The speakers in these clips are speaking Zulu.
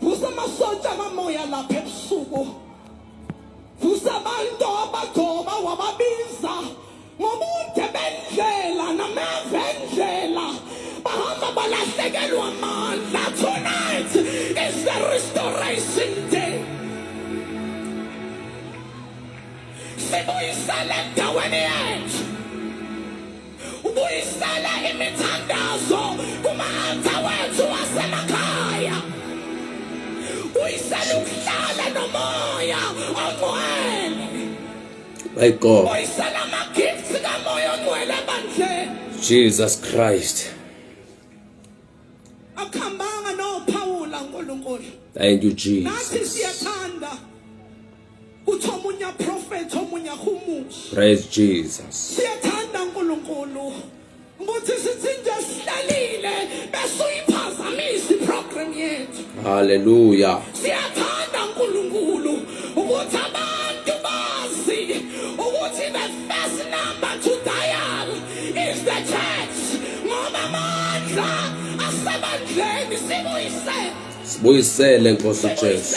Vusa amasotsha amamoya lapha ebusuku. Vusa abantu abagcoba wababiza ngobude bendlela nameva endlela bahamba balahlekelwa amandla tonight is the restoration day sibuyisele endaweni yethu Ubuyisela imithandazo kuma-alta wethu wasemakhaya. Uyisela ukuhlala nomoya ongcwele. My God. Uyisela ama-gifts kamoya ongcwele ebandleni. Jesus Christ. Akuhambanga nophawula uNkulunkulu. Thank you Jesus. Nathi siyathanda uthi omunye aprofethi omunye ahumushi praise jesus siyathanda unkulunkulu ukuthi sithi nje sihlalile bese uyiphazamisa iprogram yethu haleluya siyathanda unkulunkulu ukuthi abantu bazi ukuthi the first number to dial is the church ngoba amandla asebandleni sibuyisele sibuyisele nkosi jesu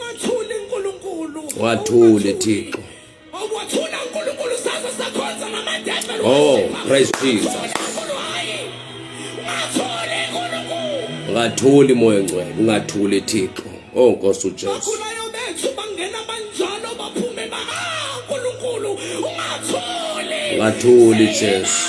Wathule uNkulunkulu. Wathule Thixo. Wathula uNkulunkulu saze sakhonza ngamadembe. Oh, praise Jesus. Ungathuli moya ngcwele, ungathuli Thixo. Oh Nkosi uJesu. Ungathuli Jesu.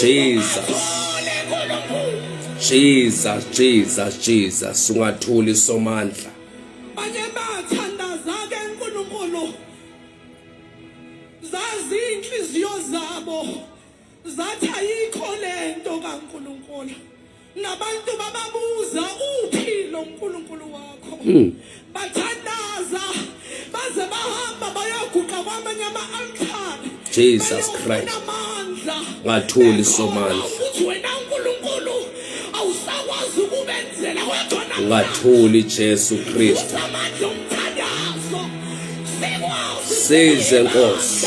Jesus Jesus Jesus Jesus ungathuli somandla banye bathandaza ke uNkulunkulu zazi inhliziyo zabo zathi ayikho lento kaNkulunkulu Nabantu bababuza uphi lo Nkulunkulu wakho. Hmm. Bathandaza baze bahamba bayoguqa kwamanye ama altare. Jesus Christ. Ngathuli somandla. Ukuthi wena uNkulunkulu awusakwazi ukubenzela kwakho. Ngathuli Jesu Christ. Amandla omthandazo. Sikwazi. Size Nkosi.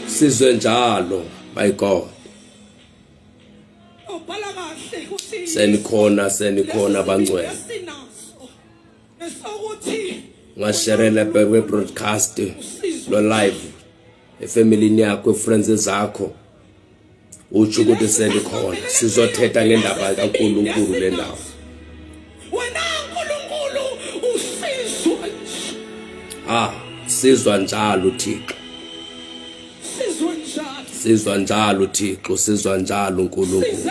sizwe njalo my god senikhona senikhona bangcwele ngasherela bebe broadcast lo live efamilini yakho friends zakho utsho ukuthi sendikhona sizothetha ngendaba kankulunkulu le ndawo wena nkulunkulu usizwa ah sizwa njalo uthixo sizwa njalo sizwa njalo uthixo sizwa njalo unkulunkulu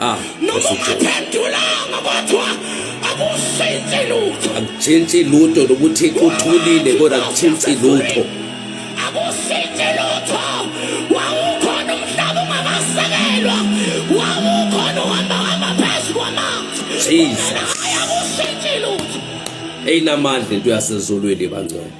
Ah, noma ungaphendulanga kodwa akushintshe lutho. Akushintshi lutho nokuthi uthulile kodwa akushintshi lutho. Akushintshe lutho. Wawukhona umhlaba ungakasekelwa. Wawukhona uhamba hamba phezu kwamanzi. Jesus. Akushintshe lutho. Eyinamandla into yasezulwini bangcwele.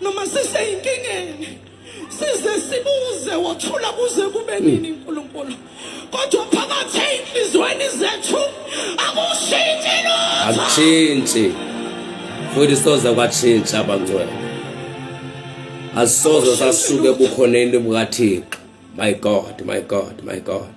noma siseyinkingeni size sibuze wathula kuze kube nini uNkulunkulu kodwa phakathi ezinhlizweni zethu akushintshi lutho akushintshi futhi soze kwatshintsha abangcwele asisoze sasuke ebukhoneni bukathixo my god my god my god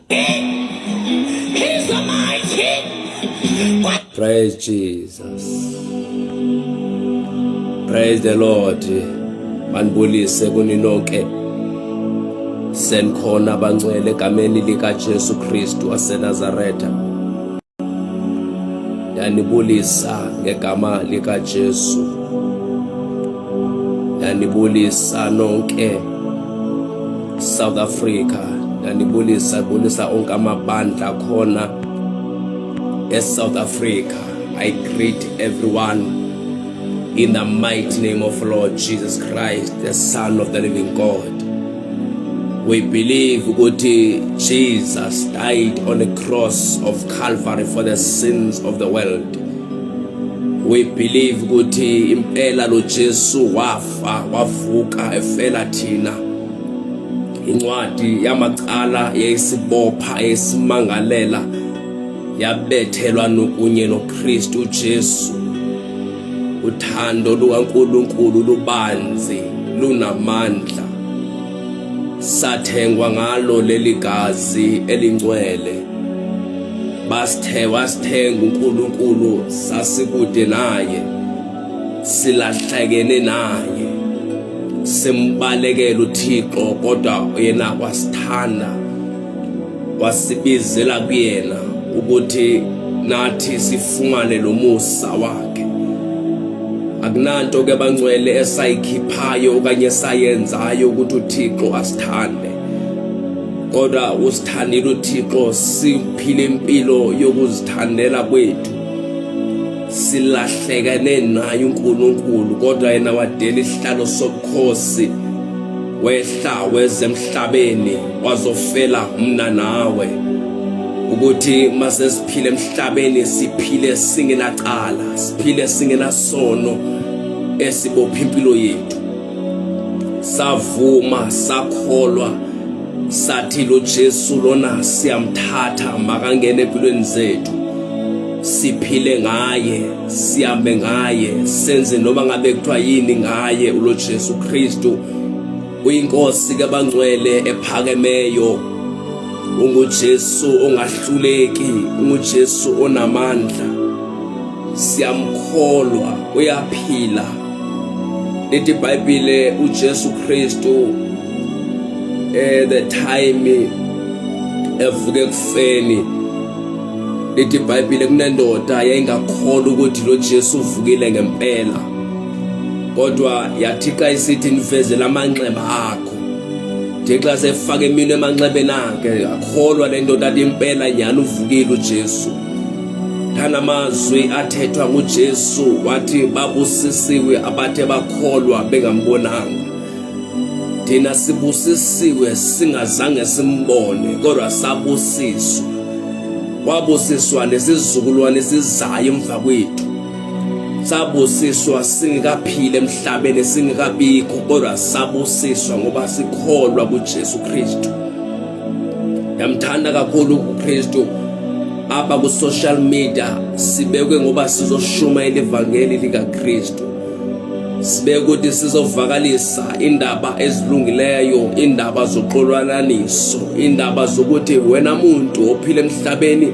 He's the mighty. Praise Jesus. Praise the Lord. Manibulise kuni nonke. Senkhona bangcwele egameni lika Jesu Kristu waseNazaretha. yanibulisa ngegama likaJesu yanibulisa nonke South Africa yanibulisa bulisa onke amabandla khona eSouth Africa I greet everyone in the mighty name of Lord Jesus Christ the son of the living God We believe ukuthi Jesus died on the cross of Calvary for the sins of the world. We believe ukuthi impela lo Jesu wafa wavuka efela thina. Incwadi yamacala yayisibopha esimangalela yabethelwa nokunye noKristu Jesu Uthando lukaNkulunkulu lubanzi, lunamandla. Sathengwa ngalo leli gazi elingcwele. Basithe wasithenga uNkulunkulu sasikude naye. Silahlekene naye. Simbalekela uThixo kodwa yena wasithanda. wasibizela kuyena ukuthi nathi sifumane lo musa wakhe akunanto ke bangcwele esayikhiphayo okanye esayenzayo ukuthi uThixo asithande kodwa usithandile uThixo siphile impilo yokuzithandela kwethu silahlekene naye uNkulunkulu kodwa yena wadela isihlalo sobukhosi wehla wezemhlabeni wazofela mna nawe ukuthi mase siphile emhlabeni siphile singenacala siphile singenasono esibopha impilo yethu savuma sakholwa sathi lo Jesu lona siyamthatha makangene empilweni zethu siphile ngaye sihambe ngaye senze noma ngabe kuthiwa yini ngaye ulo Jesu Kristu Uyinkosi kabangcwele ephakemeyo unguJesu ongahluleki unguJesu onamandla siyamkholwa uyaphila lithi iBhayibhile uJesu Kristu eh the time evuke kufeni lithi iBhayibhile kunendoda yayingakholwa ukuthi lo Jesu uvukile ngempela kodwa yathi xa isithi ndifezela amanxeba akho ndixa sefake imino emanxebeni akhe akholwa le ndoda athi impela nyhani uvukile ujesu ndanamazwi athethwa ngujesu wathi babusisiwe abathe bakholwa bengambonanga thina sibusisiwe singazange simbone kodwa sabusiswa wabusiswa nesizukulwane sizayo emva kwethu sabusiswa singekaphile emhlabeni singekabikho kodwa sabusiswa ngoba sikholwa kuJesu Kristu yamthanda kakhulu uKristu apha ku social media sibekwe ngoba sizoshumayela ivangeli likaKristu sibe ukuthi sizovakalisa indaba ezilungileyo indaba zoxolwananiso indaba zokuthi wena muntu ophile emhlabeni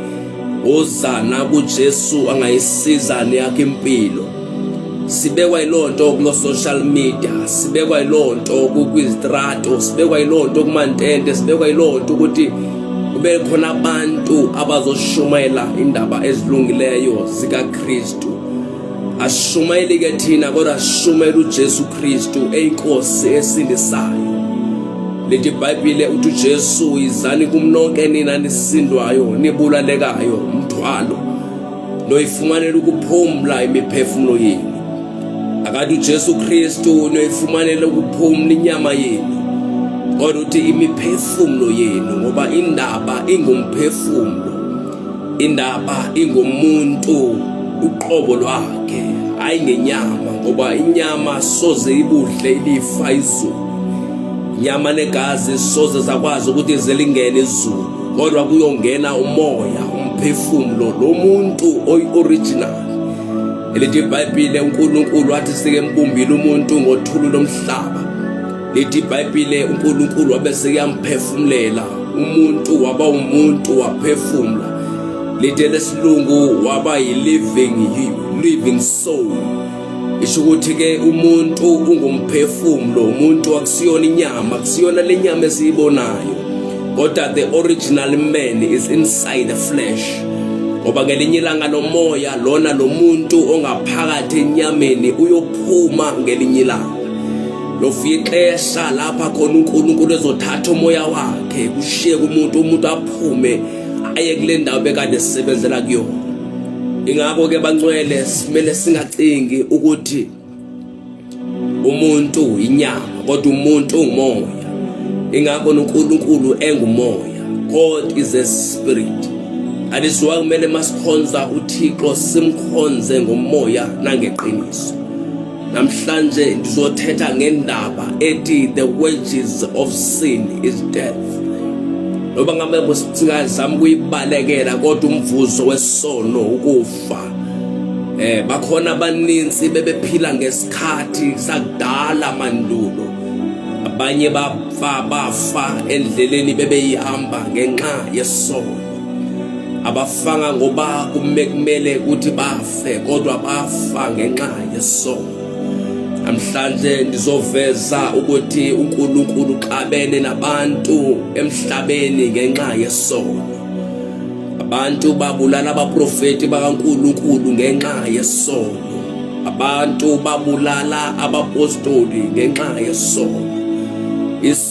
Wozana kuJesu angayisiza neyakhe impilo. Sibekwa ilonto kulo social media, sibekwa ilonto kwizitrato, sibekwa ilonto kumantente, sibekwa ilonto ukuthi kube khona abantu abazoshumayela indaba ezilungileyo zikaKristu. asishumayeli ke thina kodwa sishumayela uJesu Kristu eyinkosi esindisayo leti ibhayibhile uthi uJesu izani kumnonke nina nisindwayo nibulalekayo umthwalo noyifumanela ukuphumla imiphefumulo yenu akade uJesu Kristu noyifumanela ukuphumla inyama yenu kodwa uthi imiphefumulo yenu ngoba indaba ingumphefumulo indaba ingomuntu uqobo lwakhe hayi ngenyama ngoba inyama soze ibudle ilifa izulu inyama negazi soze zakwazi ukuthi zelingene izulu kodwa kuyongena umoya umphefumulo lo muntu oyi-original elithi ibhayibhile unkulunkulu wathi sike mbumbile umuntu ngothulu lomhlaba lithi ibhayibhile unkulunkulu wabe sekuyamphefumulela umuntu waba umuntu waphefumula lithi elesilungu waba yi-living living soul isho ukuthi-ke umuntu ungumphefumulo umuntu akusiyona inyama akusiyona le nyama esiyibonayo kodwa the original man is inside the flesh ngoba ngelinye ilanga lomoya lona lo muntu ongaphakathi enyameni uyophuma ngelinye ilanga lofixesha lapha khona uNkulunkulu ezothatha umoya wakhe kushiye kumuntu umuntu aphume aye kule ndawo bekade sisebenzela kuyona ingakho ke bancwele simele singacingi ukuthi umuntu inyama kodwa umuntu ungumoya ingakho noNkulunkulu engumoya God is a spirit alisiwa kumele masikhonza uThixo simkhonze ngomoya nangeqiniso Namhlanje ndizothetha ngendaba ethi the wages of sin is death. Loba ngabe kusingazama ukuyibalekela kodwa umvuzo wesono ukufa. Eh bakhona abaninzi bebephila ngesikhathi sakudala mandulo. Abanye bafa bafa endleleni bebeyihamba ngenxa yesono. abafanga ngoba kumekumele ukuthi bafe kodwa bafa ngenxa yesono namhlanje ndizoveza ukuthi uNkulunkulu uxabene nabantu emhlabeni ngenxa yesono abantu babulala abaprofeti bakaNkulunkulu ngenxa yesono abantu babulala abapostoli ngenxa yesono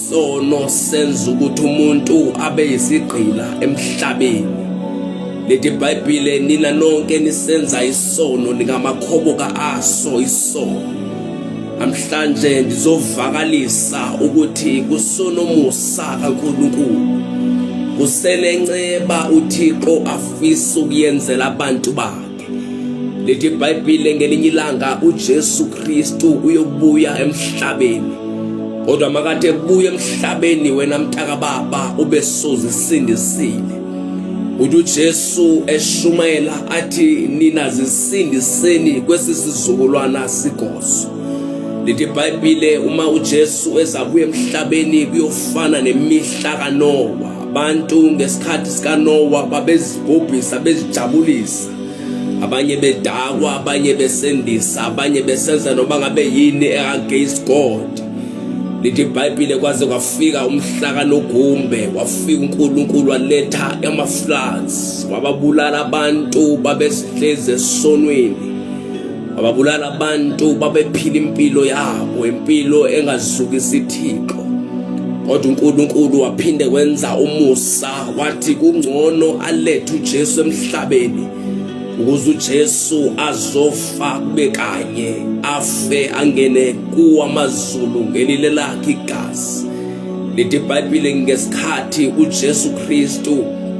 Sono senza ukuthi umuntu abe yisigqila emhlabeni. Leti Bhayibhile nina nonke nisenza isono nikamakhoboka aso isono. Namhlanje ndizovakalisa ukuthi kusonomusa kaNkulunkulu. Kusenenceba uThixo afisa ukuyenzela abantu bakhe. lithi ibhayibhile ngelinye ilanga ujesu kristu uyobuya emhlabeni kodwa makathi ebuya emhlabeni wena mtaka baba ube sozisindisile uthi ujesu eshumayela athi nina zisindiseni kwesi sizukulwana sigozo lithi ibhayibhile uma ujesu ezabuya emhlabeni kuyofana nemihla kanowa Abantu ngesikhathi sikaNowa babezibhubhisa bezijabulisa abanye bedakwa abanye besendisa abanye besenza noma ngabe yini against God lithi iBhayibhile kwaze kwafika umhlaka nogumbe wafika uNkulunkulu waletha amafloods wababulala abantu babesihleze esonweni ababulala abantu babephila impilo yabo impilo engazukisi ithixo kodwa uNkulunkulu waphinde wenza umusa wathi kungcono alethe uJesu emhlabeni ukuze uJesu azofa kube kanye afe angene kuwamazulu ngelile lakhe igazi lithi iBhayibhile ngesikhathi uJesu Kristu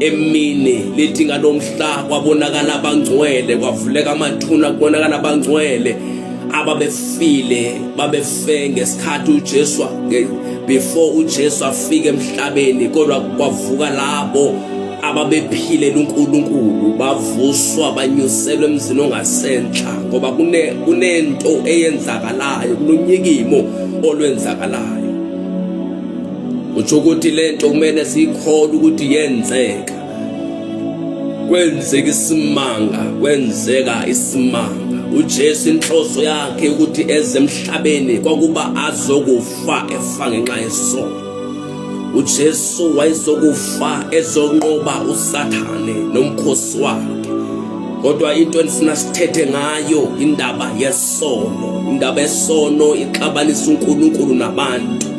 emini lithi ngalo mhla kwabonakala abangcwele kwavuleka amathuna kubonakala abangcwele ababefile babefe ngesikhathi uJesu before uJesu afike emhlabeni kodwa kwavuka labo ababephilela uNkulunkulu bavuswa banyuselwe emzini ongasenhla ngoba kune kunento eyenzakalayo kununyikimo olwenzakalayo utsho ukuthi le nto kumele siyikholwe ukuthi yenzeka kwenzeka isimanga kwenzeka isimanga uJesu inhloso yakhe ukuthi eze emhlabeni kwakuba azokufa efa ngenxa yesono uJesu wayezokufa ezonqoba uSathane nomkhosi wakhe kodwa into endifuna sithethe ngayo indaba yesono indaba yesono ixabanisa uNkulunkulu nabantu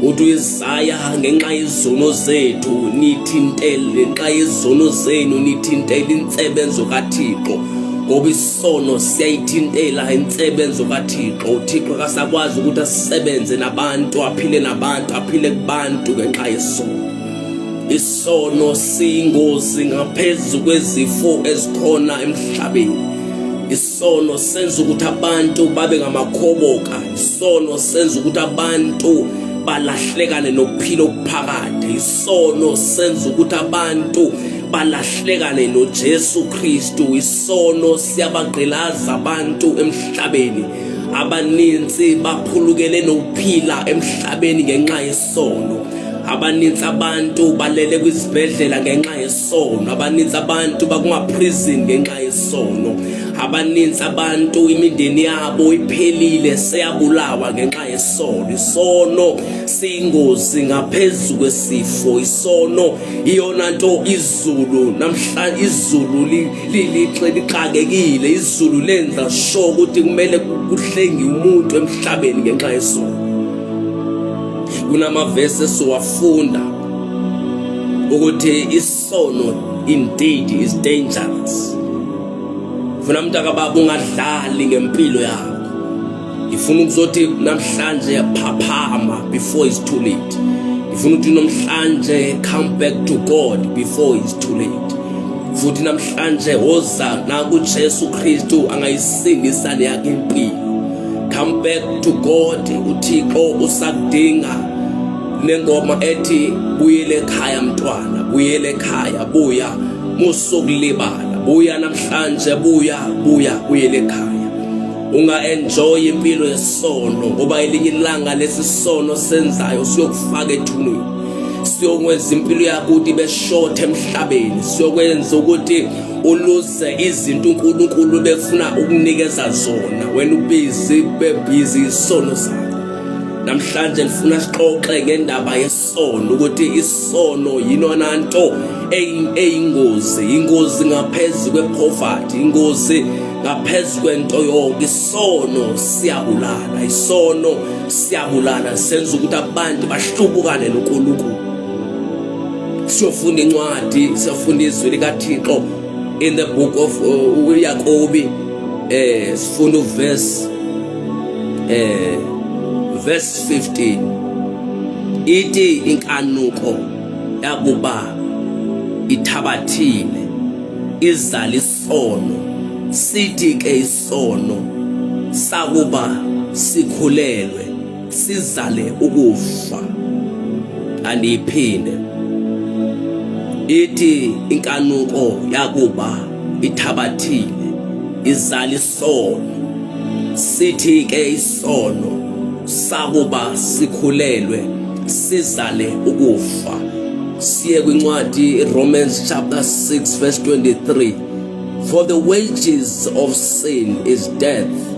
uthi uyizaya ngenxa yezono zethu nithintele ngenxa yezono zenu nithintele insebenzo kathixo ngoba isono siyayithintela insebenzo kathixo uthixo kasakwazi ukuthi asisebenze nabantu aphile nabantu aphile kubantu ngenxa yesono isono siyingozi ngaphezu kwezifo ezikhona emhlabeni isono senza ukuthi abantu babe ngamakhoboka isono senza ukuthi abantu balahlekane nokuphila okuphakade isono senza ukuthi abantu balahlekane noJesu Kristu isono siyabagqilaza abantu emhlabeni abaninzi baphulukele nokuphila emhlabeni ngenxa yesono abaninzi abantu balele kwizibhedlela ngenxa yesono sono abaninzi abantu bakumaprison ngenxa yesono abaninzi abantu imindeni yabo iphelile seyabulawa ngenxa yesono isono siyingozi ngaphezu kwesifo isono iyona nto izulu namhlanje izulu lixakekile izulu lenza sho ukuthi kumele kuhlengi umuntu emhlabeni ngenxa yesono kunamavesi esiwafunda ukuthi isono indeed is dangerous funa umuntu akababa ungadlali ngempilo yakho ngifuna ukuzothi namhlanje phaphama before it's too late ngifuna ukuthi namhlanje come back to God before it's too late futhi namhlanje woza nakuJesu Kristu angayisindisa leyakhe impilo come back to God uThixo usakudinga nengoma ethi buyele ekhaya mntwana buyele ekhaya buya musukulibala buya namhlanje buya buya buyele ekhaya unga-enjoy impilo yesono ngoba elinye ilanga lesi sono senzayo siyokufaka ethuneni siyokwenza impilo yakuthi beshothe emhlabeni siyokwenza ukuthi uluze izinto uNkulunkulu befuna ukunikeza zona wena ubizi bebhizi isono sakho namhlanje ngifuna sixoxe ngendaba yesono ukuthi isono yinona nto eyingozi ingozi ngaphezulu kwepoverty ingozi ngaphezulu kwento yonke isono siyabulala isono siyabulala senza ukuthi abantu bahlubukane noNkulunkulu siyofunda incwadi siyofunda izwi likaThixo in the book of uh, uyakobi uh, eh, sifuna uverse eh verse 15 ithi inkanuko yakuba ithabathile izala isono sithi ke isono sakuba sikhulelwe sizale ukufa aliphinde ithi inkanuko yakuba ithabathile izala isono sithi ke isono sakuba sikhulelwe sizale ukufa siye kwincwadi Romans chapter 6 verse 23 for the wages of sin is death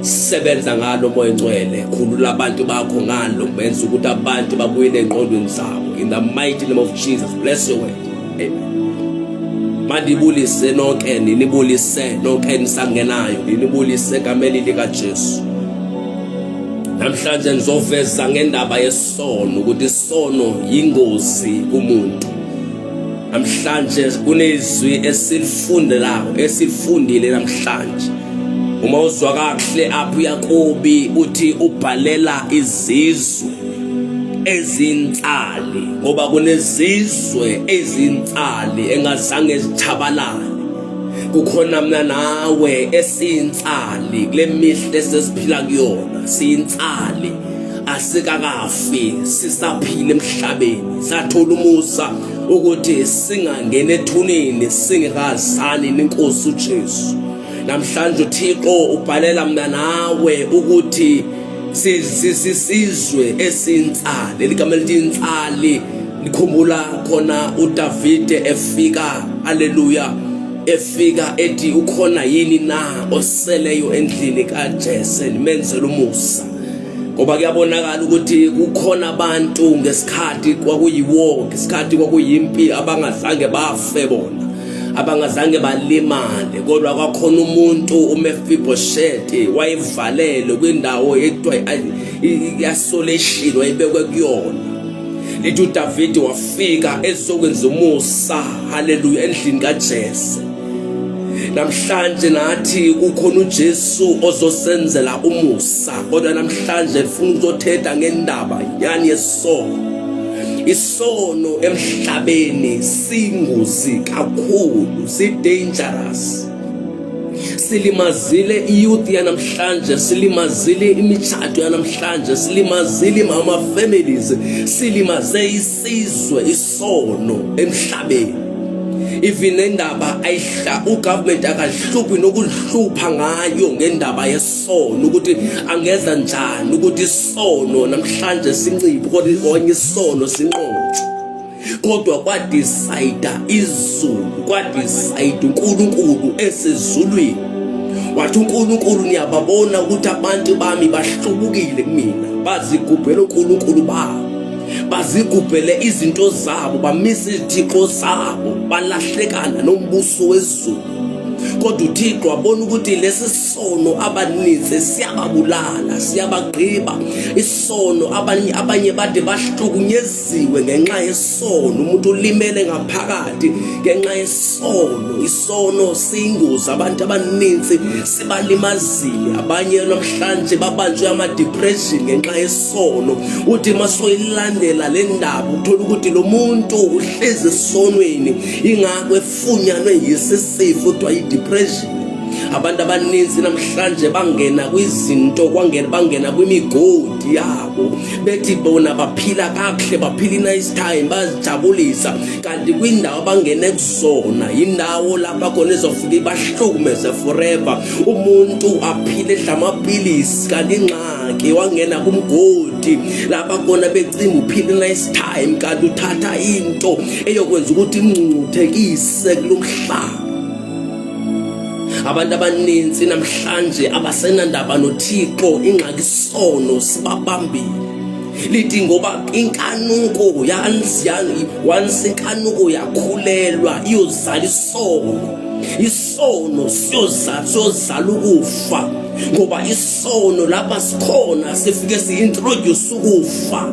sebenza ngalo moya ngcwele khulula abantu bakho ngalo benza ukuthi abantu babuye nengqondweni zabo in the mighty name of Jesus bless your word amen mandibulise nonke ninibulise nonke nisangenayo ninibulise kameli lika Jesu namhlanje ngizoveza ngendaba yesono ukuthi isono yingozi kumuntu namhlanje kunezwi esilifundelayo esilifundile namhlanje uma uzwa kakuhle apho uyakobi uthi ubhalela izizwe ezinsali ngoba kunezizwe ezinsali engazange zithabalale kukhona mina nawe esinsali kule mihla esesiphila kuyona sinsali asikakafi sisaphila emhlabeni sathola umusa ukuthi singangena ethuneni singekazani nenkosi uJesu namhlanje uThixo ubhalela mina nawe ukuthi sisizwe esintsali eligama elithi insali nikhumbula khona uDavide efika haleluya efika ethi ukhona yini na oseleyo endlini kaJese nimenzela umusa ngoba kuyabonakala ukuthi kukhona abantu ngesikhathi kwakuyiwar ngesikhathi kwakuyimpi abangazange bafe bona abangazange balimale kodwa kwakhona umuntu uMefiboshete wayevalelwe kwindawo ekuthiwa i-isolation wayebekwe kuyona lithi uDavide wafika ezokwenza umusa haleluya endlini kaJese namhlanje nathi kukhona uJesu ozosenzela umusa kodwa namhlanje ufuna ukuzothetha ngendaba yani yesono isono emhlabeni singozi kakhulu si dangerous silimazile iyouth yanamhlanje silimazile imitshato yanamhlanje silimazile ama families silimaze isizwe sono emhlabeni even indaba ayihla ugovernment akahluphi nokuhlupha ngayo ngendaba yesono ukuthi angenza njani ukuthi isono namhlanje sinciphe kodwa onye isono sinqothe kodwa kwadecide izulu kwadecide uNkulunkulu esezulwini wathi uNkulunkulu niyababona ukuthi abantu bami bahlubukile kumina bazigubhela uNkulunkulu babo bazigubhele izinto zabo bamisa izithixo zabo balahlekana nombuso wezulu kodwa uthixo wabona ukuthi lesi sono abaninzi siyababulala siyabagqiba isono abanye abanye bade bahlukunyeziwe ngenxa yesono umuntu ulimele ngaphakathi ngenxa yesono sono siyingozi abantu abaninzi sibalimazile abanye namhlanje babanjwe ama-depression ngenxa yesono uthi masoyilandela le ndaba uthola ukuthi lo muntu uhlezi esonweni ingakho efunyanwe yisisifo kuthiwa yi-depression abantu abaninzi namhlanje bangena kwizinto kwangena bangena kwimigodi yabo bethi bona baphila kakuhle baphila i-nice time bazijabulisa kanti kwindawo abangene kuzona yindawo lapha khona izofike ibahlukumeze forever umuntu aphile edla amaphilisi kanti ingxaki wangena kumgodi lapha khona becinga uphile nice time kanti uthatha into eyokwenza ukuthi imngcungcuthekise kulo mhlaba abantu abaninzi namhlanje abasenandaba nothixo ingxaki sono sibabambile lithi ngoba inkanuko once inkanuko yakhulelwa iyozala isono isono siyozala siyozala ukufa ngoba isono lapha sikhona sifike si-introduce ukufa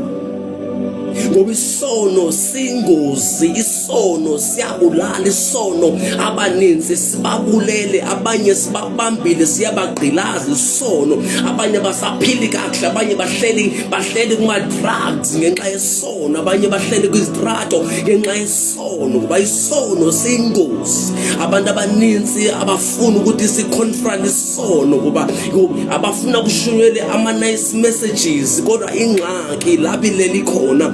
ngoba isono singozi isono siyabulala isono abaninzi sibabulele abanye sibabambile siyabagqilaza isono abanye basaphili kakuhle abanye bahleli bahleli kuma-drugs ngenxa yesono abanye bahleli kwizitrato ngenxa yesono ngoba isono siyingozi abantu abaninzi abafuni ukuthi siconfront isono ngoba abafuna kushunyele ama-nice messages kodwa ingxaki laphi leli khona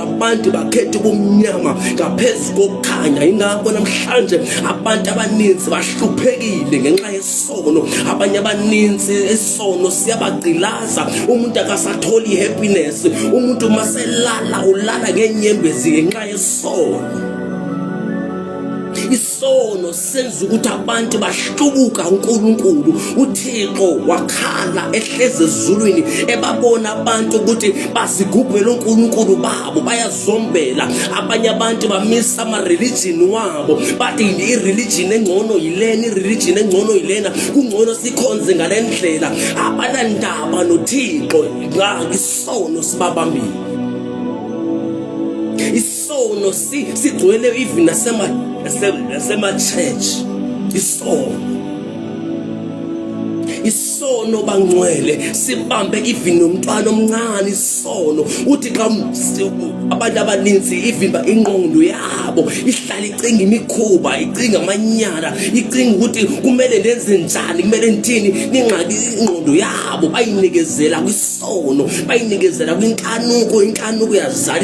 abantu bakhetha ubumnyama ngaphezu kokukhanya ingakho namhlanje abantu abaninzi bahluphekile ngenxa yesono abanye abaninzi isono siyabagqilaza umuntu akasatholi i-happiness umuntu uma selala ulala ngeenyembezi ngenxa yesono sono senza ukuthi abantu bahlubuka uNkulunkulu uThixo wakhala ehleze ezulwini ebabona abantu ukuthi basigubhela uNkulunkulu babo bayazombela abanye abantu bamisa ama religion wabo bathi i religion engcono yilena i religion engcono yilena kungcono sikhonze ngalendlela abanandaba noThixo ngakisono sibabambile isono sigcwele even nasema-church isono isono bangcwele sibambe even nomntwana omncane isono uthi xa abantu abaninzi ivimba ingqondo yabo ihlala icinga imikhuba icinga amanyala icinga ukuthi kumele ndenze njani kumele ndithini ningxaki ingqondo yabo bayinikezela kwisono bayinikezela kwinkanuko inkanuko yazala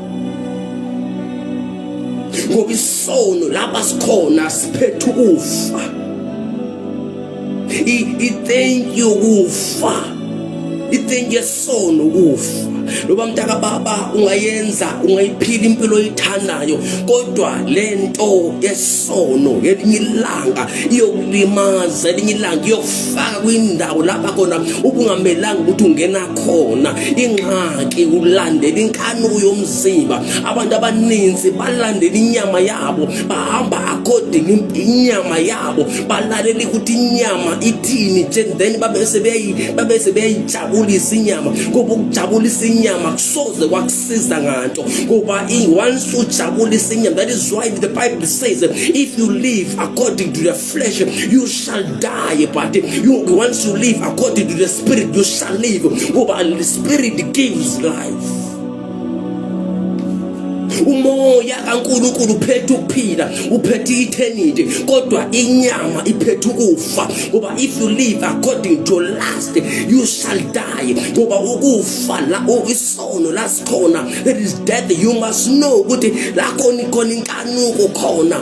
ngoba isono lapha sikhona siphethe ukufa i-thank you kufa i-thank you sono ukufa loba mntaka baba ungayenza ungayiphila impilo oyithandayo kodwa le nto yesono ngelinye ilanga iyokulimaza elinye ilanga kufaka kwindawo lapha khona ubungamelanga ukuthi ungena khona ingxaki ulandela inkanuko yomzimba abantu abaninzi balandela inyama yabo bahamba according inyama yabo balalele ukuthi inyama ithini then babese babese beyayijabulisa inyama ngoba ukujabulisa inyama kusoze kwakusiza nganto ngoba once ujabulisa inyama that is why the bible says if you live according to the flesh, you shall die. But you, once you live according to the spirit, you shall live. Ngoba oh, the spirit gives life. umoya kaNkulunkulu uphethe ukuphila uphethe eternity kodwa inyama iphethe ukufa ngoba if you live according to lust you shall die ngoba ukufa la isono lasikhona there is death you must know ukuthi la khona ikhona inkanuko khona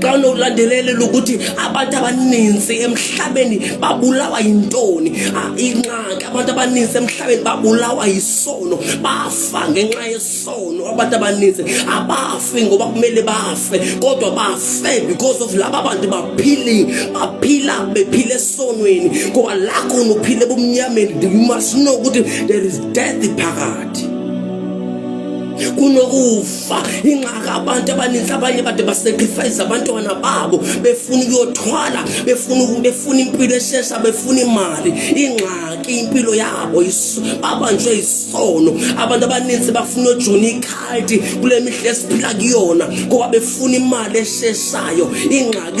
xa unokulandelelela ukuthi abantu abaninzi emhlabeni babulawa yintoni ah, ingxaki abantu abaninzi emhlabeni babulawa yisono bafa ngenxa yesono abantu abaninzi abafi ngoba kumele bafe kodwa bafe because of laba bantu baphili baphila bephila esonweni ngoba lakho unophila ebumnyameni you must know ukuthi there is death phakathi kunokufa kufa ingxaka abantu abaninzi abanye kade basacrifice abantwana babo befuna ukuyothwala befuna befuna impilo eshesha befuna imali ingxaki impilo yabo babanjwe isono abantu abaninzi bafuna ujuna ikhadi kule mihla esiphila kuyona ngoba befuna imali esheshayo ingxaki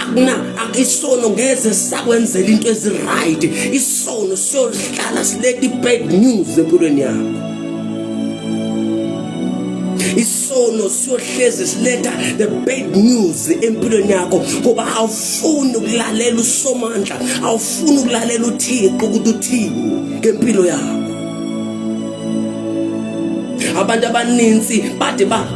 akuna isono ngeze sakwenzela into eziright isono siyolihlala silethe i-bad news empilweni yakho isono siyohlezi siletha the bad news empilweni yakho ngoba awufuni ukulalela usomandla awufuni ukulalela uthixo ukuthi uthini ngempilo yakho abantu abaninzi bade ba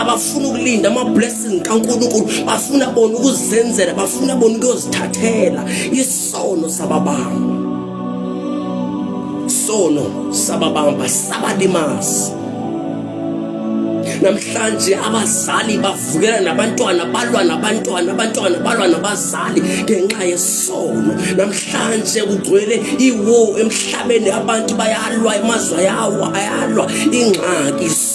abafuna ukulinda ama-blessing kankulunkulu bafuna bona ukuzenzela bafuna bona ukuyozithathela isono sababamba isono sababamba sabalimazi namhlanje abazali bavukela nabantwana balwa nabantwana abantwana balwa nabazali ngenxa yesono namhlanje kugcwele iwo emhlabeni abantu bayalwa emazwe yawo ayalwa ingxaki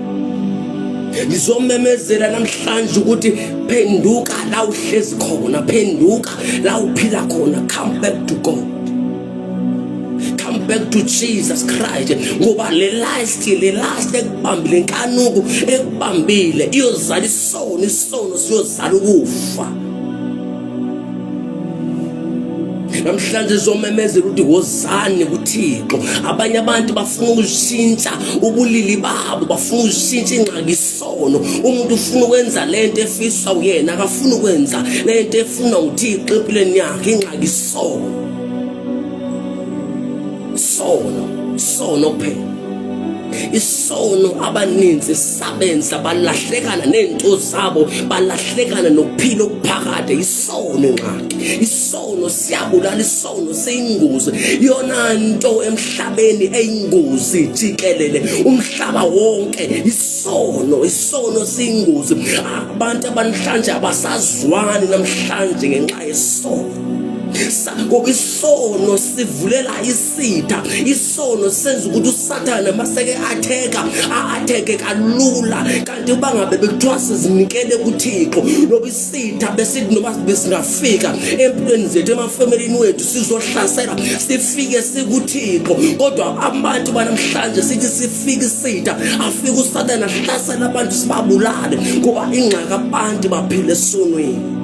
ngizomemezela namhlanje ukuthi phenduka la uhlezi khona phenduka la uphila khona come back to god come back to jesus christ ngoba le last le last ekubambile nkanuku ekubambile iyozala isono isono siyozala ukufa namhlanje zomemezela ukuthi wozani kuthixo abanye abantu bafuna ukushintsha ubulili babo bafuna ukushintsha ingxaki isono umuntu ufuna ukwenza le nto efisa uyena akafuni ukwenza le nto efuna uthixo empilweni yakhe ingxaki isono isono isono kuphela isono abaninzi sabenza balahlekana nento zabo balahlekana nokuphila okuphakade isono ingxaki isono siyabulala isono seyingozi yona nto emhlabeni eyingozi jikelele umhlaba wonke isono isono siyingozi abantu abanhlanje abasazwani namhlanje ngenxa yesono isono sivulela isitha isono senza ukuthi usathane maseke atheka a-atheke kalula kanti uba ngabe bekuthiwa sizinikele kuthixo noba isitha besithi noba besingafika empilweni zethu emafemelini wethu sizohlasela sifike sikuthixo kodwa abantu banamhlanje sithi sifike isitha afike usathane ahlasela abantu sibabulale ngoba ingxaka abantu baphile esonweni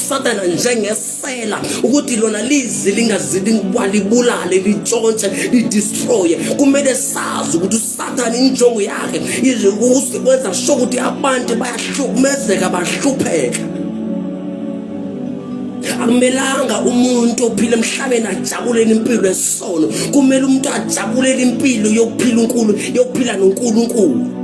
satana njengesela ukuthi lona lizi lingazilibulale litshontshe lidistroye kumele sazi ukuthi usathane injongo yakhe iziusikwenza sho ukuthi abantu bayahlukumezeka bahlupheka akumelanga umuntu ophila emhlabeni ajabulele impilo yesono kumele umuntu ajabulele impilo yokuphila uNkulunkulu yokuphila noNkulunkulu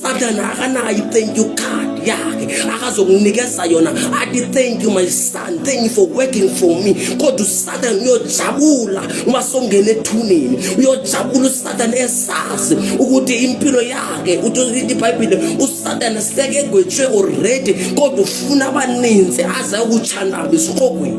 Satan akanayo i-thank you card yakhe akazokunikeza yona athi thank you my son thank you for working for me kodwa usatan uyojabula uma songena ethuneni uyojabula usatan esazi ukuthi impilo yakhe uthi ibhayibhile usatan seke egwetshwe already kodwa ufuna abaninzi aze ukutshandabe esiqogweni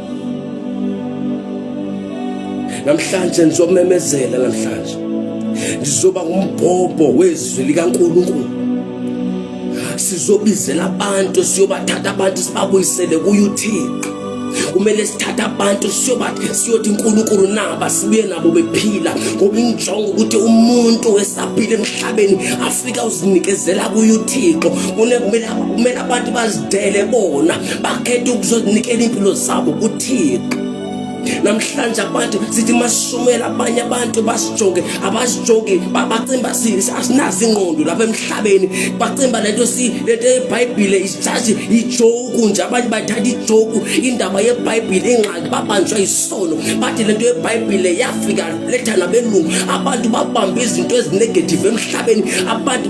namhlanje ngizomemezela namhlanje ngizoba ngumbhobho wezwi likaNkulunkulu sizobizela abantu siyobathatha abantu sibabuyisele kuyuthixo kumele sithathe abantu siyothi unkulunkulu naba sibuye nabo bephila ngoba injongo ukuthi umuntu esaphile emhlabeni afika uzinikezela kuye uthixo kumele abantu bazidele bona bakhetha ukuzonikela impilo zabo kuThixo namhlanje abantu sithi masishumela abanye abantu basijoke abasijoke bacimba asinazi ingqondo lapha emhlabeni bacimba lento si lento yebhayibhile isijaji ijoku nje abanye bathatha ijoku indaba yebhayibhile ingxaki babanjwa isono bathi lento yebhayibhile yafika letha nabelungu abantu babamba izinto ezinegative emhlabeni abantu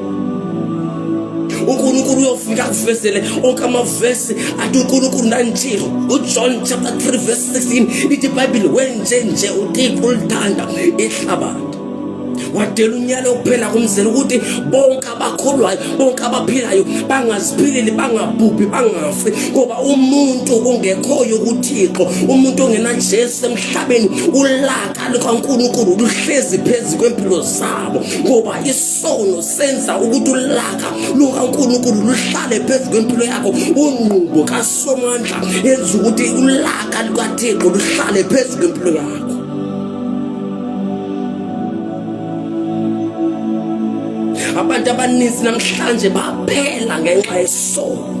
unkulunkulu uyofika akuvezele onke amavesi athi unkulunkulu ndanjilo ujohn chapter 3 verse 16 ithi ibhayibhile wenje nje uthixo ulithanda ihlabathi wadela unyalo kuphela kumzela ukuthi bonke abakholwayo bonke abaphilayo bangaziphileli bangabhubhi bangafi ngoba umuntu ongekhoyo kuthixo umuntu ongenajesu emhlabeni ulaka lukankulunkulu luhlezi phezu kwempilo zabo ngoba sono senza ukuthi ulaka lukaNkulunkulu luhlale phezu kwempilo yakho unqubo kaSomandla yenza ukuthi ulaka lukaThixo luhlale phezu kwempilo yakho abantu abaninzi namhlanje baphela ngenxa yesono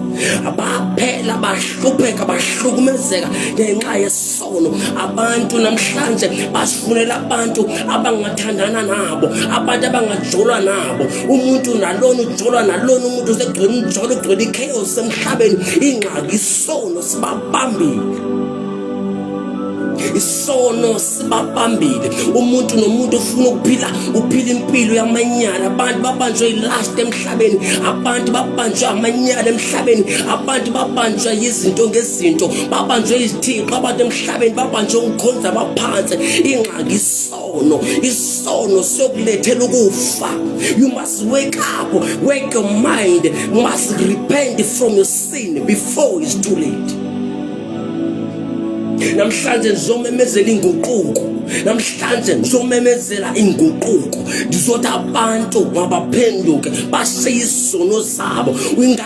abaphela bahlupheka bahlukumezeka ngenxa yesono khona abantu namhlanje basifunela abantu abangathandana nabo abantu abangajolwa nabo umuntu nalona ujolwa nalona umuntu usegcwele umjolo ugcwele i-chaos emhlabeni ingxaki isono sibabambile isono sibabambile umuntu nomuntu ufuna ukuphila uphila impilo yamanyala abantu babanjwe ilast emhlabeni abantu babanjwe amanyala emhlabeni abantu babanjwa yizinto ngezi izinto babanjwe izithixo abantu emhlabeni babanjwe ukukhonza baphansi ingxaki isono isono siyokulethela ukufa you must wake up wake your mind you must repent from your sin before it's too late namhlanje ngizomemezela inguquko namhlanje ngizomemezela inguquko ngizothi abantu mabaphenduke bashiye isono sabo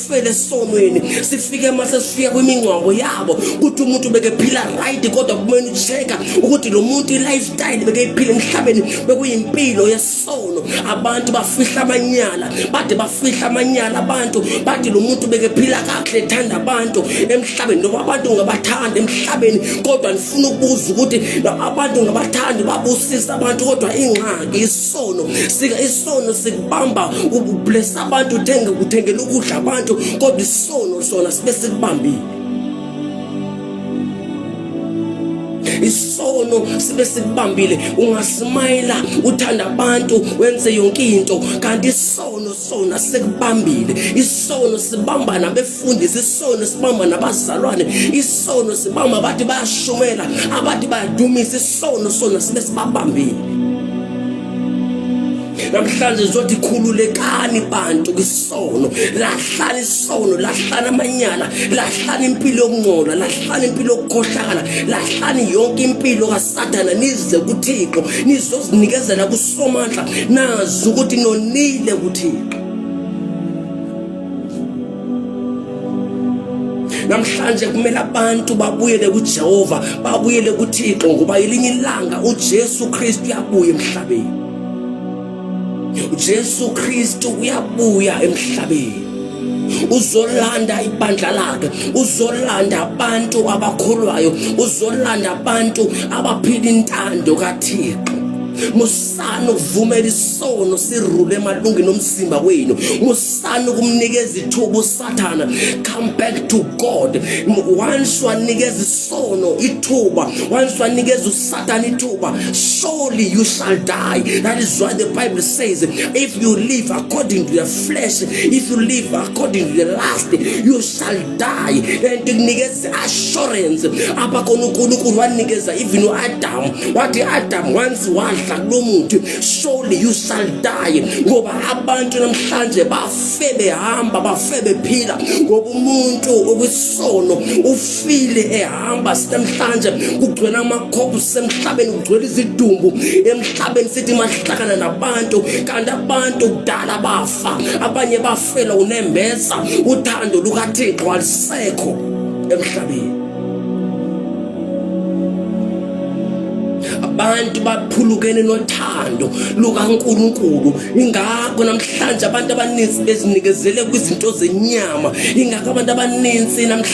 sifele esonweni sifike mase sifika kwimingcwango yabo ukuthi umuntu bekephila right kodwa kumele ucheka ukuthi lo muntu i-lifestyle bekeyiphila emhlabeni bekuyimpilo yesono abantu bafihla amanyala bade bafihla amanyala abantu bathi lo muntu bekephila kakuhle ethanda abantu emhlabeni noma abantu ngabathanda emhlabeni kodwa ndifuna ukubuza ukuthi abantu ngabathandi babusisa abantu kodwa ingxaki isono sika isono sikubamba ublesa abantu uthenge kuthengela ukudla abantu kodwa isono sona sibe sikubambile isono sibe sikubambile ungasimayela uthanda abantu wenze yonke into kanti isono isono sikubambile isono sibamba nabefundisi isono sibamba nabazalwane isono sibamba abathi bayashumela abathi bayadumisa isono sona sibe sibabambile namhlanje zothi khululekani bantu kwisono lahlani isono lahlani amanyala lahlani impilo yokungcola lahlani impilo yokukhohlakala lahlani yonke impilo kasathana nize kuthixo nizozinikezela somandla nazi ukuthi nonile kuthixo namhlanje kumele abantu babuyele kujehova babuyele kuthixo ngoba yelinye ilanga ujesu kristu uyabuya emhlabeni ujesu kristu uyabuya emhlabeni uzolanda ibandla lakhe uzolanda abantu abakholwayo uzolanda abantu abaphila intando kaThixo musani ukuvumela isono sirule emalungini omzimba wenu musani ukumnikeza ithuba usathana come back to god once wanikeza isono ithuba once wanikeza Satan ithuba surely you shall die that is why the bible says if you live according to the flesh if you live according to the lust you shall die and kunikeza assurance apha khona uNkulunkulu wanikeza even uAdam wathi Adam once wadla kulomuthi surely you shall die ngoba abantu namhlanje bafe behamba bafe bephila ngoba umuntu okwisono ufile hamba sinemhlanje kugcwele amakhophu sisemhlabeni kugcwele izidumbu emhlabeni sithi mahlakana nabantu kanti abantu kudala bafa abanye bafela unembeza uthando lukathixo alisekho emhlabeni abantu baphulukene nothando lukaNkuluNkulu ingakho namhlanje abantu abaninzi bezinikezele kwizinto zenyama ingakho abantu abaninzi namhlanje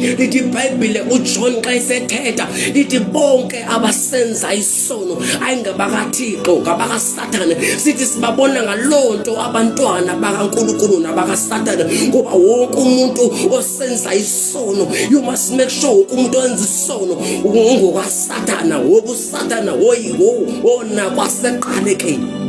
lithi ibhayibhile ujohn xa esethetha lithi bonke abasenza isono ayingabakathixo ngabakasathane sithi sibabona ngaloo nto abantwana bakankulunkulu nabakasathane ngoba wonke umuntu osenza isono you must make sure wonke umuntu owenza isono ungokasathana woba usathana woyi wona kwaseqalekeni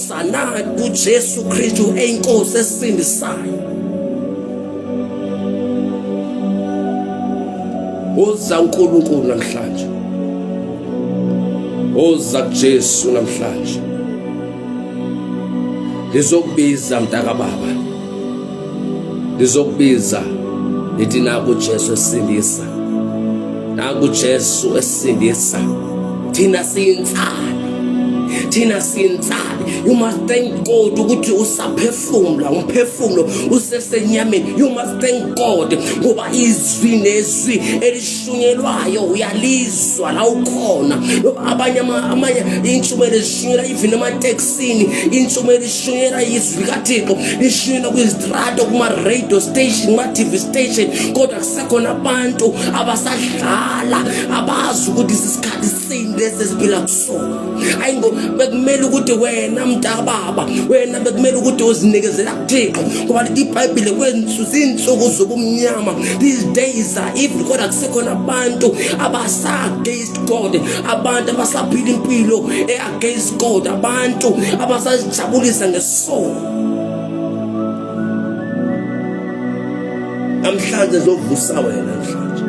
Sanani kuJesu Kristu eyinkosi esisindisayo. Woza uNkulunkulu namhlanje. Woza kuJesu namhlanje. Lizokubiza mntaka baba. lizokubiza lithi naku Jesu esindisa naku Jesu esindisa thina siyintsana thina siyintsana you must thank God ukuthi usaphefumula umphefumulo usesenyameni you must thank God ngoba izwi nezwi shunyelwayo uyalizwa la ukhona abanye amanye intshumayelo ezishunyela even emateksini intshumayelo ishunyela izwi likathixo ishunyela kwizitrato kuma-radio station kuma-tv station kodwa kusekhona abantu abasadlala abazi ukuthi sisikhathi isimo lesi esiphila kusona hayi ngo bekumele ukuthi wena mntakababa wena bekumele ukuthi uzinikezela kuthixo ngoba lithi ibhayibhile kwensu ziinsuku zobumnyama these days are evil kodwa kusekhona abantu abasa-against god abantu abasaphila impilo e-against god abantu abasazijabulisa ngesono namhlanje zovusa wena namhlanje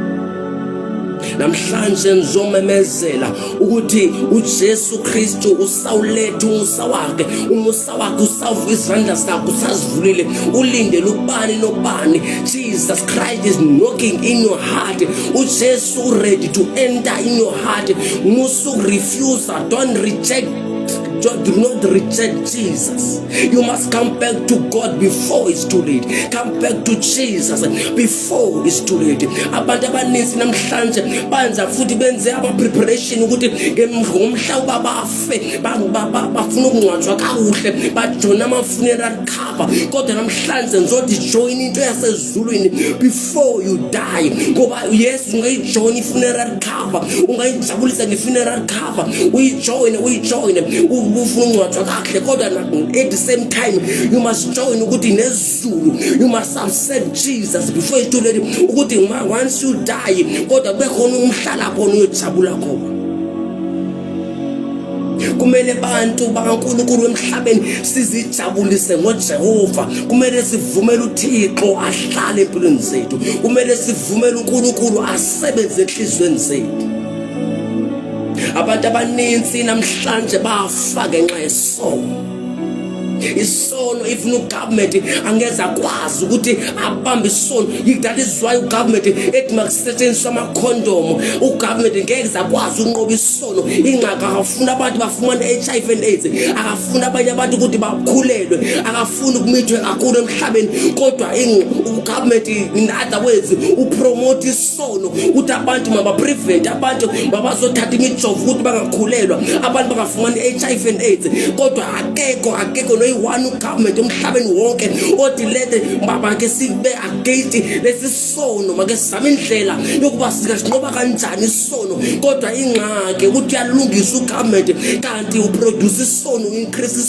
namhlanje ngizomemezela ukuthi uJesu Kristu usawuletha umusa wakhe umusa wakhe usawuvuka izandla zakhe usazivulile ulindele ubani nobani Jesus Christ is knocking in your heart uJesu ready to enter in your heart musu refuse don't reject Just do not reject Jesus. You must come back to God before it's too late. Come back to Jesus before four isituleti abantu abaninzi namhlanje banza futhi benze ama-preparation ukuthi ngomhla uba bafe bafuna ukungcwatshwa kakuhle bajone ama-funeral cover kodwa namhlanje ngizothi joyina into yasezulwini before you die ngoba yes ungayijoyina i-funeral cover ungayijabulisa nge-funeral cover uyijoyine uyijoyine ufuna ukungcwatshwa kakuhle kodwa at the same time you must join ukuthi Zulu you must have said Jesus before you told him ukuthi ma once you die kodwa kube khona umhlala khona uyojabula khona kumele abantu bakaNkulunkulu emhlabeni sizijabulise ngoJehova kumele sivumele uThixo ahlale empilweni zethu kumele sivumele uNkulunkulu asebenze enhlizweni zethu abantu abaninzi namhlanje bafa ngenxa yesono isono if no government angeze akwazi ukuthi abambe isono that is why ugovernment ethi makusetshenziswa amakhondomo ugovernment ngeke zakwazi ukunqoba isono ingxaka akafuna abantu bafumane HIV and AIDS akafuna abanye abantu ukuthi bakhulelwe akafuni ukumithwe kakhulu emhlabeni kodwa ugovernment in other words upromote sono ukuthi abantu mabaprevent abantu mabazothatha imijovo ukuthi bangakhulelwa abantu bangafumani i-hiv and aids kodwa akekho akekho noyi-one ugovernment emhlabeni wonke othi lete babake sibe agate lesi sono make sizame indlela yokuba singasinqoba kanjani isono kodwa ingxaki ukuthi uyalungisa ugovernment kanti uproduce isono u-increase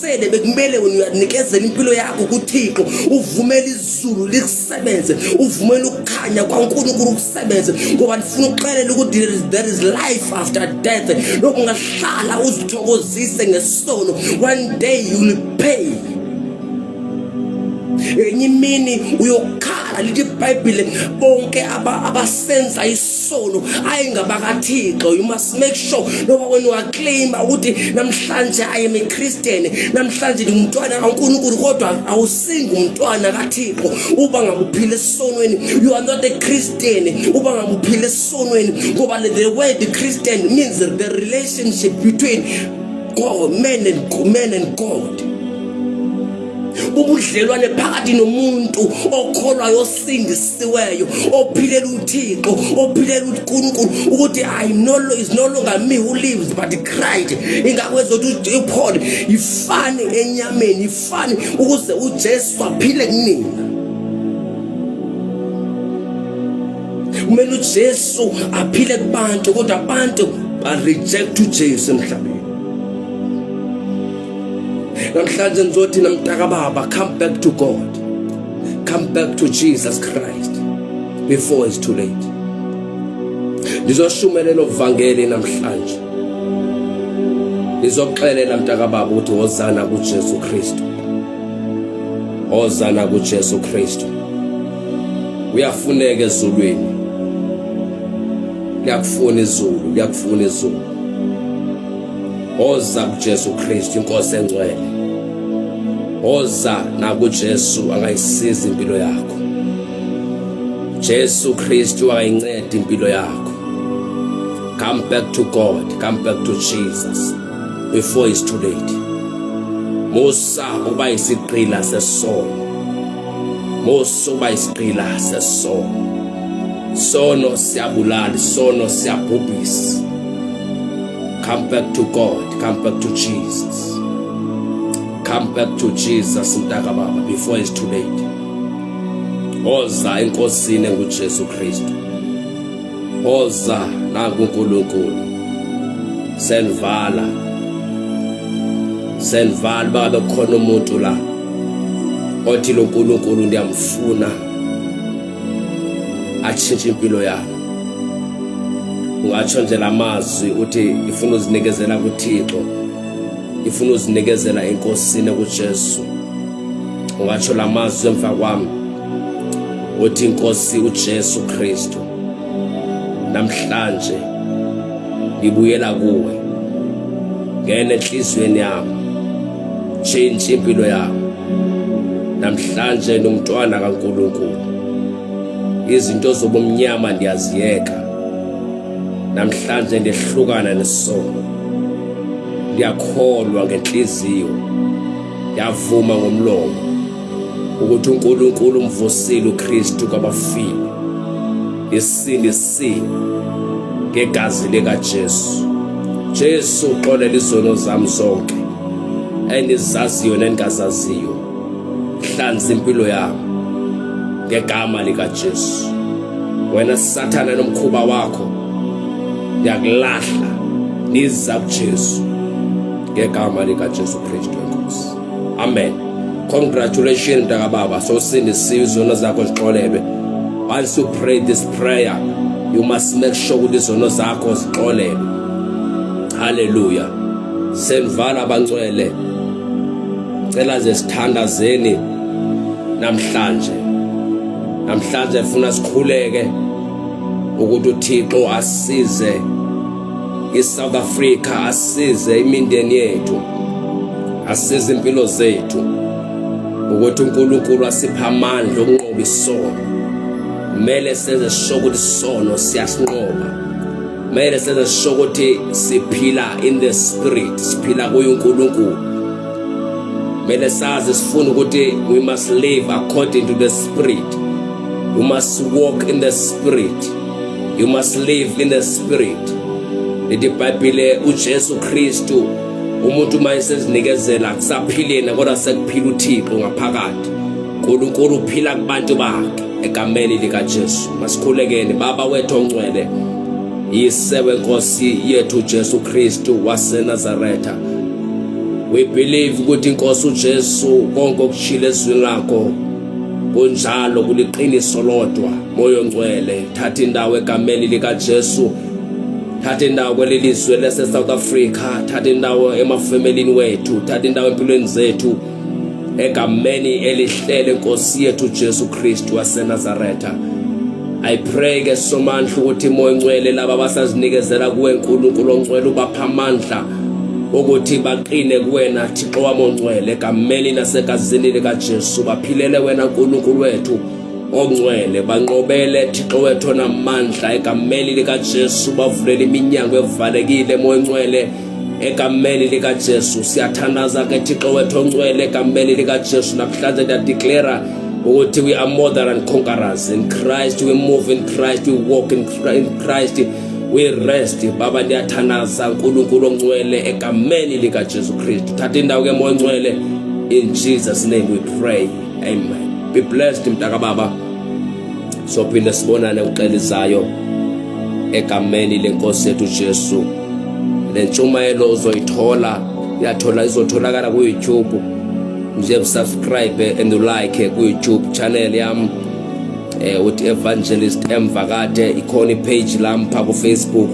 sele bekumele wena uyanikezela impilo yakho kuthixo uvumele izulu likusebenze uvumele ukukhanya kwankulunkulu ukusebenze ngoba ndifuna ukuxelela ukuthi there is life after death lokhu ungahlala uzithokozise ngesono one day you will pay enye imini uyokhala lithi ibhayibhile bonke abasenza sono ayi ngabakathixo you must make sure loba wena uyaclaima ukuthi namhlanje i am a christian namhlanje ngumntwana kaNkulunkulu kodwa awusingi umntwana kaThixo uba ngakuphila esonweni you are not a christian uba ngakuphila esonweni ngoba the word christian means the relationship between God man and man and God ubudlelwane phakathi nomuntu okholwayo osindisiweyo ophilela uthixo ophilela unkulunkulu ukuthi i no is no longer me who lives but christ ingakho ezothi uphole yifani enyameni yifani ukuze ujesu aphile kunina kumele ujesu aphile kubantu kodwa abantu bareject ujesu emhlabeni namhlanje ngizothi namntaka baba come back to god come back to Jesus Christ before it's too late lizoshumelela uvangeli namhlanje lizoxelela mntakababa ukuthi wozana kuJesu Kristu wozana kuJesu Kristu uyafuneka ezulwini liyakufuna izulu liyakufuna izulu Oza kuJesu Kristu inkosi engcwele. Oza nakuJesu angayisiza impilo yakho. Jesu Kristu ayincede impilo yakho. Come back to God, come back to Jesus before it's too late. Musa uba isiqila sesono. Musa uba isiqila sesono. Sono siyabulala, sono siyabhubhisa. Come back to God. Come back to Jesus. Come back to Jesus mntaka baba before it's too late. Oza enkosini enguJesu Kristu. Oza nakuNkulunkulu. Senvala. Senvala baba khona umuntu la. Othi loNkulunkulu ndiyamfuna. atshintshe impilo yabo ungatsho nje la mazwi uthi ngifuna uzinikezela kuthixo ngifuna uzinikezela enkosini kujesu ungatsho la mazwi emva kwami uthi inkosi ujesu kristu namhlanje ngibuyela kuwe ngene enhliziyweni yami tshintshe impilo yami namhlanje nomntwana kaNkulunkulu izinto zobumnyama ndiyaziyeka namhlanje ndehlukana nesono ndiyakholwa ngenhliziyo ndiyavuma ngomlomo ukuthi uNkulunkulu umvusile uKristu kwabafile isindisa si ngegazi lika Jesu Jesu uxolela izono zami zonke engizaziyo nengazaziyo hlanza impilo yami ngegama lika Jesu wena sathana nomkhuba wakho ngiyakulahla niza kuJesu ngegama lika Jesu Kristu amen congratulations mntakababa sosindisiwe izono zakho zixolelwe once you pray this prayer you must make sure ukuthi izono zakho zixolelwe haleluya senvala abangcwele cela ze sithandazeni namhlanje namhlanje funa sikhuleke ukuthi uThixo asize ISouth Africa asize imindeni yethu, asize impilo zethu ukuthi uNkulunkulu asipha amandla okunqoba isono. Kumele senze sisho ukuthi isono siyasinqoba. Kumele senze sisho ukuthi siphila in the spirit, siphila kuye uNkulunkulu. Kumele sazi sifuna ukuthi we must live according to the spirit. We must walk in the spirit. you must live in the spirit lithi ibhayibhile ujesu kristu umuntu uma esezinikezela akusaphileni kodwa sekuphila uthixo ngaphakathi nkulunkulu uphila kubantu bakhe egameni likajesu masikhulekeni baba wethu ongcwele yise wenkosi yethu jesu kristu wasenazaretha we believe ukuthi inkosi ujesu konke okushilo ezwini lakho kunjalo kuliqiniso lodwa moyo ngcwele thatha indawo egameni likaJesu thatha indawo kweli lizwe lase South Africa thatha indawo emafemelini wethu thatha indawo empilweni zethu egameni elihlele Nkosi yethu Jesu Kristu waseNazaretha I pray ke somandla ukuthi moyo ngcwele laba basazinikezela kuwe uNkulunkulu ongcwele ubapha amandla ukuthi baqine kuwena Thixo wami ongcwele egameni nasegazini likaJesu baphilele wena Nkulunkulu wethu ongcwele banqobele Thixo wethu onamandla egameni likaJesu bavulele iminyango evalekile moya ongcwele egameni likaJesu siyathandaza ke Thixo wethu ongcwele egameni likaJesu namhlanje ndiyadeclara ukuthi we are more than conquerors in Christ we move in Christ we walk in Christ we rest baba ndiyathanaza uNkulunkulu ongcwele egameni lika Jesu Kristu thatha indawo ke moya ongcwele in Jesus name we pray amen be blessed mntaka baba sophinde sibonane uxelizayo egameni lenkosi yethu Jesu lentshumayelo uzoyithola yathola izotholakala ku YouTube nje subscribe and like ku YouTube channel yami eh uthi evangelist emva kade ikhona ipage lampha ku Facebook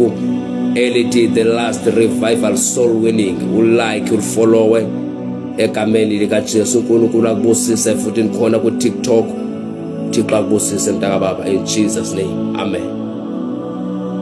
elithi the last revival soul winning ulike ufollowe egameni lika Jesu uNkulunkulu akubusise futhi nikhona ku TikTok Thixo akubusise mntaka baba in Jesus name amen